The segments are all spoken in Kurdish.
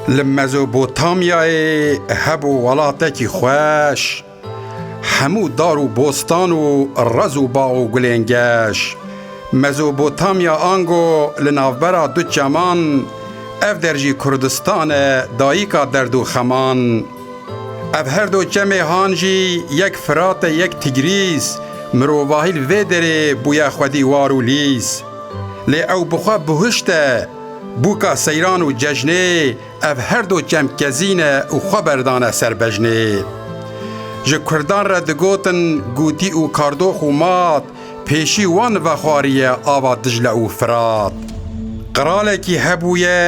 Li Mezopotamyayê hebû welatekî xweş, hemû dar û bostan û rez û bax û gulên geş. Mezopotamya ango li navbera du çeman, ev der jî Kurdistan e dayîka derd û xeman. Ev her do çemê han jî yek Firat e yek Tigrîs, mirovahî li vê derê bûye xwedî war û lîs. Lê ew bi xwe bihuşt e, Bûka seyran û cejnê ev her do çemkezîn e û xwe berdane ser bejnê. Ji kurdan re digotin gûtî û kardox û mat pêşî wan vexwariye ava Dicle û Firat. Qiralekî hebûye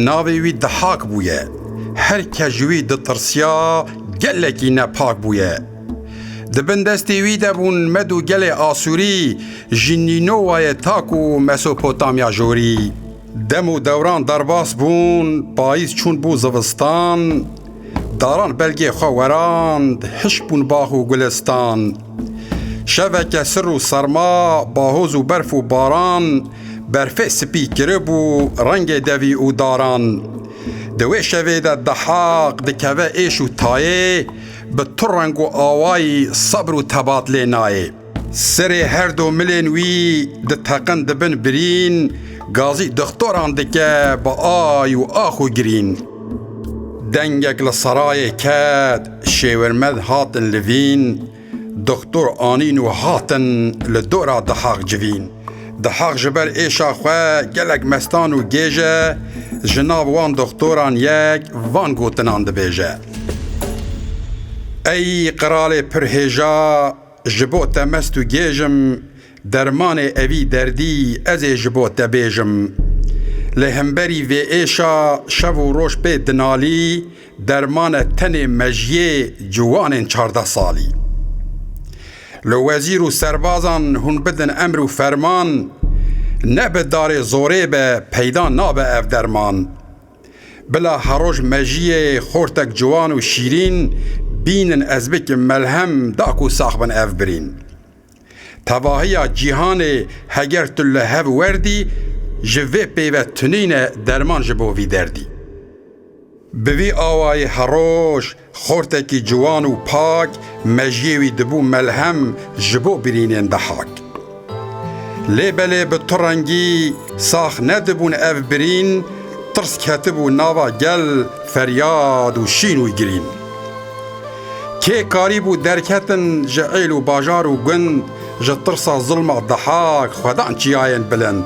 navê wî Dihak bûye. Her kes ji wî ditirsiya gelekî nepak bûye. Di bin destê wî de bûn Med û gelê Asûrî, ji Nînowayê ta ku Mesopotamya Jorî. Dem û dewran derbas bûn, payîz çûn bû zivistan, daran belgê xwe werand, hişk bûn bax û gulestan. Şeveke sir û serma, bahoz û berf û baran, berfê spî kiribû rengê devî û daran. Di wê şevê de Dehaq dikeve êş û tayê, Bi tu reng û awayî sebr û tebat lê nayê. Serê her do milên wî diteqin dibin birîn, gazî dixtoran dike bi ay û ax û girîn. Dengek li serayê ket, şêwirmed hatin livîn, dixtor anîn û hatin li dora dihaq civîn. Di heq ji ber êşa xwe gelek mestan û gêj e, ji nav wan doxtoran yek van gotinan dibêje, Ey qiralê pir hêja, ji bo te mest û gêj im, dermanê evî derdî ez ê ji bo te bêjim. Lê himberî vê êşa şev û roj pê dinalî, Dermane tenê mejiyê ciwanên çardeh salî. Li wezîr û serbazan hûn bidin emr û ferman, ne bi darê zorê be peyda nabe ev derman. Bila heroj mejiyê xortek ciwan û şîrîn bînin ez bikim melhem da ku sax bin ev birîn. Tevahiya cîhanê heger tu li hev werdî ji vê pêve tunîne derman ji bo vî derdî. Bi vî awayê heroj xortekî ciwan û pak mejiyê wî dibû melhem ji bo birînên dehak. Lê belê bi tu rengî sax nedibûn ev birîn tirs ketibû nava gel feryad û şîn û girîn. Kê karîbû derketin ji êl û bajar û gund ji tirsa zilma Dihak xwedan çiyayên bilind?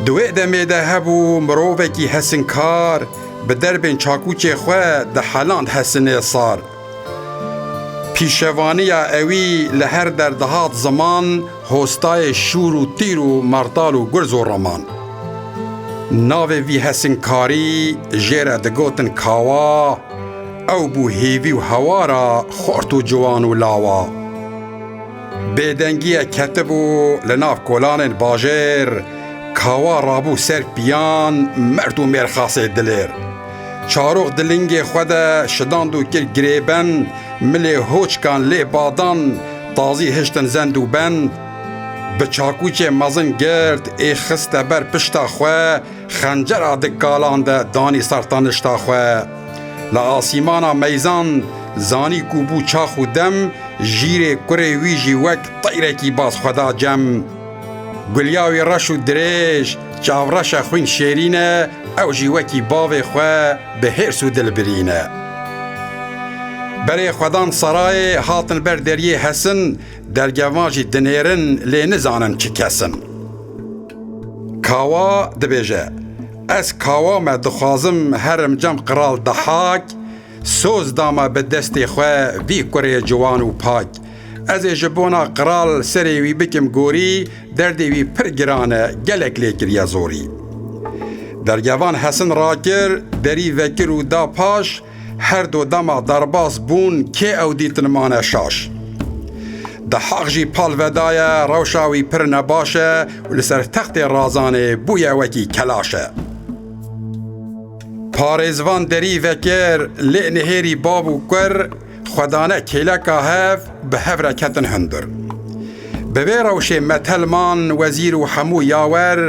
Di wê demê de hebû mirovekî hesinkar bi derbên çakûçê xwe diheland hesinê sar. Pîşevaniya ewî li her der dihat ziman, Hostayê şûr û tîr û martal û gurz û raman. Navê vî hesînkarî jê re digotin kawa, ew bû hêvî û hewara xort û ciwan û lawa. Bêdengiyê ketibû li nav kolanên bajêr, kawa rabû ser pîyan, merd û mêrxasê dilêr. Çarok di lingê xwe de şidand û kir girêbend, milê hoçkan lê badan, tazî hiştin zend û bend. Bi çakûçê mezin gird ê xiste ber pişta xwe, xencera di kalan de danî ser tenişta xwe. Li asîmana meyzan zanî ku bû çax û dem, jîrê kurê wî jî wek teyrekî baz xwe da cem. Gulya wî reş û dirêj, çavreşe xwîn şêrîn e, Ew jî wekî bavê xwe bi hêrs û dil birîne. Berê xwedan serayê hatin ber deriyê hesin, dergevan jî dinêrin lê nizanin çi kes in. Kawa dibêje, Ez kawa me dixwazim herim cem qral dehak, soz dama bi destê xwe vî kurê ciwan û pak, Ez ê ji bona qral serê wî bikim gorî, derdê wî pir giran e, gelek lê kiriye zorî. Dergevan Hesin rakir, derî vekir û da paş, her du dema derbas bûn, kê ew dîtin mane şaş. Dehaq jî pal vedaye, rewşa wî pir nebaş e û li ser textê Razanê bûye wekî kelaş e. Parêzvan derî vekir, lê nihêrî bav û kur, Xwedane kêleka hev bi hev re ketin hundir. Bi vê rewşê me Telman wezîr û hemû yawer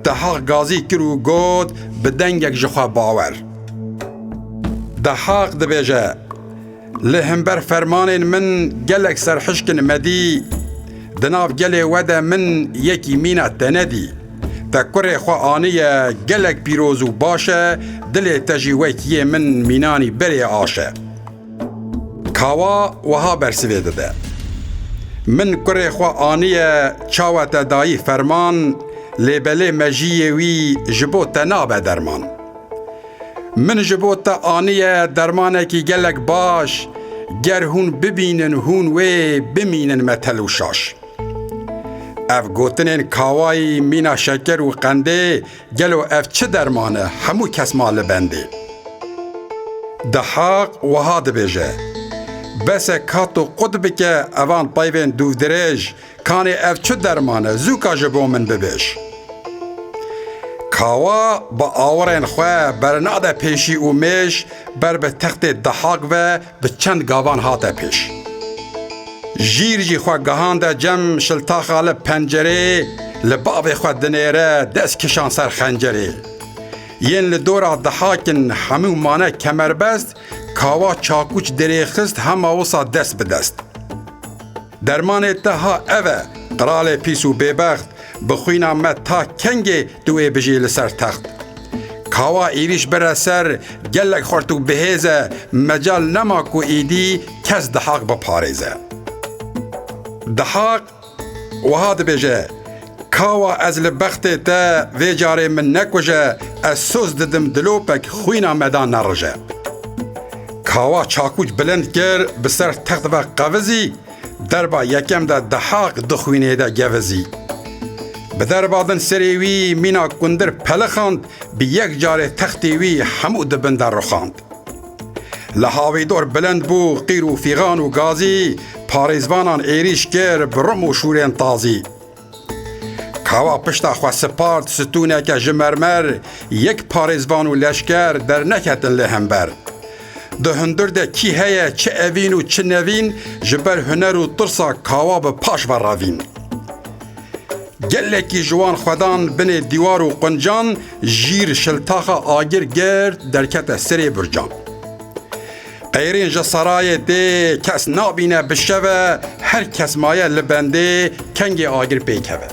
Dehaq gazî kir û got bi dengek ji xwe bawer. Dehaq dibêje, Li himber fermanên min gelek serhişkin me dî, di nav gelê we de min yekî mîna te nedî. Te kurê xwe aniye gelek pîroz û baş e, dilê te jî wekî yê min mînanî berê aş e. Kawa wiha bersivê dide, Min kurê xwe aniye çawe te dayî ferman lê belê mejiyê wî ji bo te nabe derman. Min ji bo te aniye dermanekî gelek baş ger hûn bibînin hûn wê bimînin metel û şaş. Ev gotinên kawayî mîna şeker û qendê Gelo ev çi derman e hemû kes ma li bendê. Dihaq wiha dibêje, Bese ka tu qut bike evan tayvên dûvdirêj, kanê ev çi derman e zûka ji bo min bibêj. Kawa bi awirên xwe bernade pêşî û mêj ber bi textê Dihaq ve Bi çend gavan hate pêş. Jîr jî xwe gehande cem şiltaxa li pencerê li bavê xwe dinêre dest kişan ser xencerê. Yên li dora dihakin hemû mane kemerbest kawa çakûç dirê xist hema wisa dest bi dest. Dermanê te ha ev e, qralê pîs û bêbext, bi xwîna me ta kengê tu ê bijî li ser text? Kawa êrîş bire ser gelek xurt û bihêz e, mecal nema ku êdî kes Dihaq biparêze. Dihaq wiha dibêje. Kawa ez li bextê te vê carê min nekuje, ez soz didim dilopek xwîna me da nerije. Kawa çakûç bilind kir bi ser text ve qevizî, derba yekem de dihaq di xwînê de gevizî. Bi derba din serê wî mîna kundir pelixand, bi yek carê textê wî hemû di bin de rixand. Li hawîdor bilind bû qîr û fîxan û gazî, parêzvanan êrîş kir bi rim û şûrên tazî. Kawa pişta xwe sipart stûneke ji mermer yek parêzvan û leşker derneketin lê hember. Di hundir de kî heye çi evîn û çi nevîn ji ber huner û tirsa kawa bi paş ve revîn. Gelekî ji wan xwedan binê dîwar û quncan jîr şiltaxa agir girt derkete serê burcan. Qeyrên ji serayê tê kes nabîne bi şeve her kes maye li bendê kengê agir pê keve.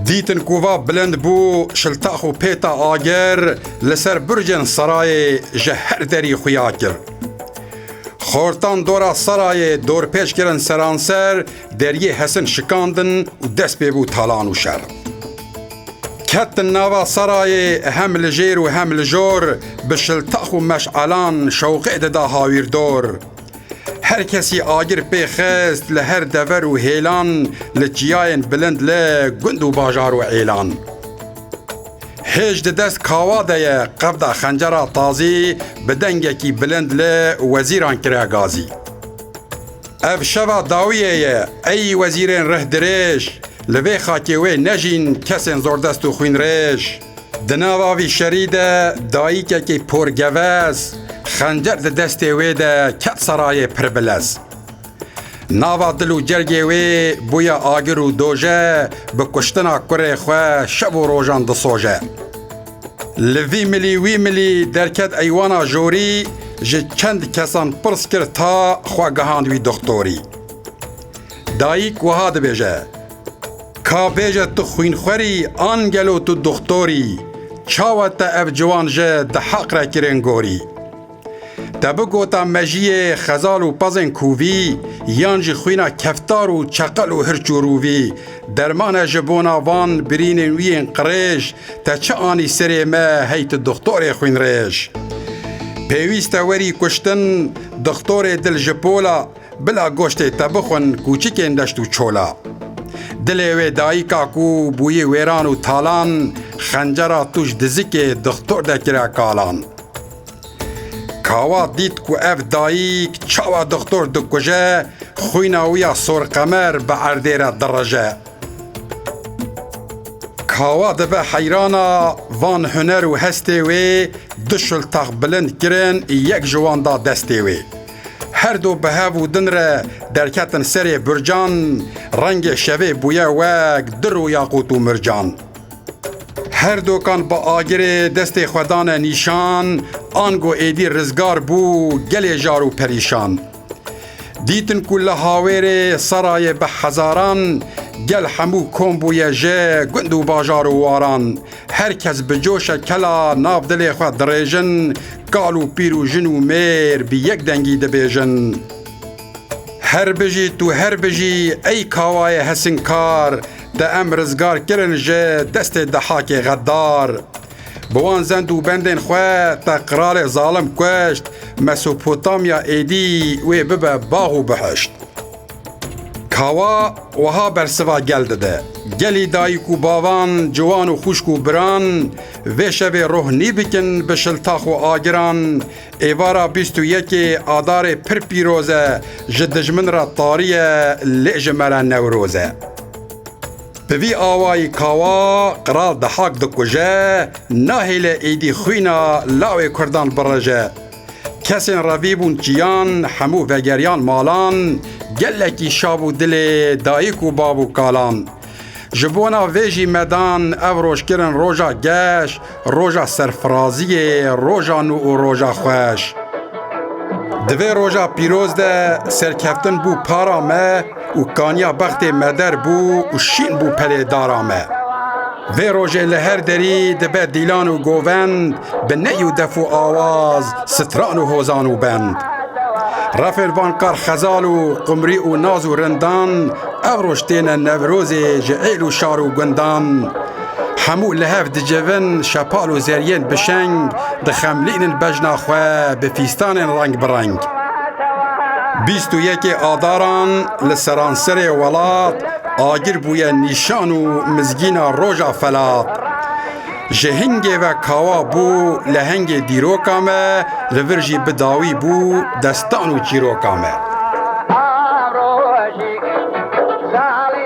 Dîtin ku va bilind bû şiltax û pêta agir li ser burcên serayê ji her derî xuya kir. Xortan dora serayê dorpêç kirin seranser, deriyê hesin şikandin û dest pê bû talan û şer. Ketin nava serayê hem li jêr û hem li jor bi şiltax û meş'elan şewqê dida hawîrdor. Her kesî agir pê xist li her dever û hêlan li çiyayên bilind li gund û bajar û êlan. Hêj di dest kawa de ye qevda xencera tazî bi dengekî bilind li wezîran kire gazî. Ev şeva dawiyê ye ey wezîrên rih dirêj, Li vê xakê wê nejîn kesên zordest û xwînrêj. Di nava vî şerî de dayîkekî porgevez xencer di destê wê de ket serayê pir bilez. Nava dil û cergê wê bûye agir û doje bi kuştina kurê xwe şev û rojan disoje. Li vî milî wî milî derket eywana jorî ji çend kesan pirs kir ta xwe gihand wî doxtorî. Dayîk wiha dibêje, Ka bêje tu xwînxwerî an gelo tu doxtorî, çawa te ev ciwan ji di heq re kirên gorî? Te bi gota mejiyê xezal û pezên kûvî yan jî xwîna keftar û çeqel û hirç û rûvî dermane ji bona van birînên wî yên qirêj te çi anî serê me hey tu doxtorê xwînrêj. Pêwîste werî kuştin doxtorê dil ji pola Bila goştê te bixwin kûçikên deşt û çola. Dilê wê dayika ku bûyî wêran û talan xencera tûj dizikê dixtor de kire kalan. Kawa dît ku ev dayik çawa dixtor dikuje, xwîna wî ya sorqemer bi erdê re direje. Kawa dibe heyrana van huner û hestê wê du şiltex bilind kirin yek ji wan da destê wê. Her du bi hev û din re derketin serê burcan, rengê şevê bûye wek dir û yaqût û mircan. Her dokan bi agirê destê xwe dane nîşan, ango êdî rizgar bû gelê jar û perîşan. Dîtin ku li Hawêrê serayê bi hezaran, gel hemû kom bûye ji gund û bajar û waran, Her kes bi coşa kela nav dilê xwe dirêjin, kal û pîr û jin û mêr bi yek dengî dibêjin. Her bijî tu her bijî ey kawayê hesinkar te em rizgar kirin ji destê dehakê xeddar. Bi wan zend û bendên xwe te qiralê zalim kuşt, Mesopotamya êdî wê bibe bax û biheşt. Kawa wiha bersiva gel dide, Gelî dayik û bavan, ciwan û xwişk û biran vê şevê roh nîbikin bi şiltax û agiran, êvara bîst û yekê Adarê pir pîroz e, ji dijmin re tarî ye lê ji me re Newroz e. Bi vî awayî Kawa qral dihak dikuje, nahêle êdî xwîna lawê kurdan bireje. Kesên revî bûn çiyan, hemû vegeriyan malan, gelekî şav û dilê dayik û bav û kalan. Ji bona vê jî medan ev roj kirin roja geş, roja serfiraziyê, roja nû û roja xweş. Di vê roja pîroz de serkeftin bû para me, û kaniya bextê me der bû û şîn bû pelê dara me. Vê rojê li her derî dibe dîlan û govend bi ney û def û awaz stran û hozan û bend. Refên van kar xezal û qumrî û naz û rindan ev roj têne Newrozê ji êl û şar û gundan Hemû li hev dicivin, şepal û zeriyên bi şeng dixemlînin bejna xwe bi fîstanên reng bi reng. Bîst û yekê Adaran li seranserê welat agir bûye nîşan û mizgîna Roja Felat. Ji hingê ve kawa bû lehengê dîroka me, li vir jî bi dawî bû destan û çîroka me.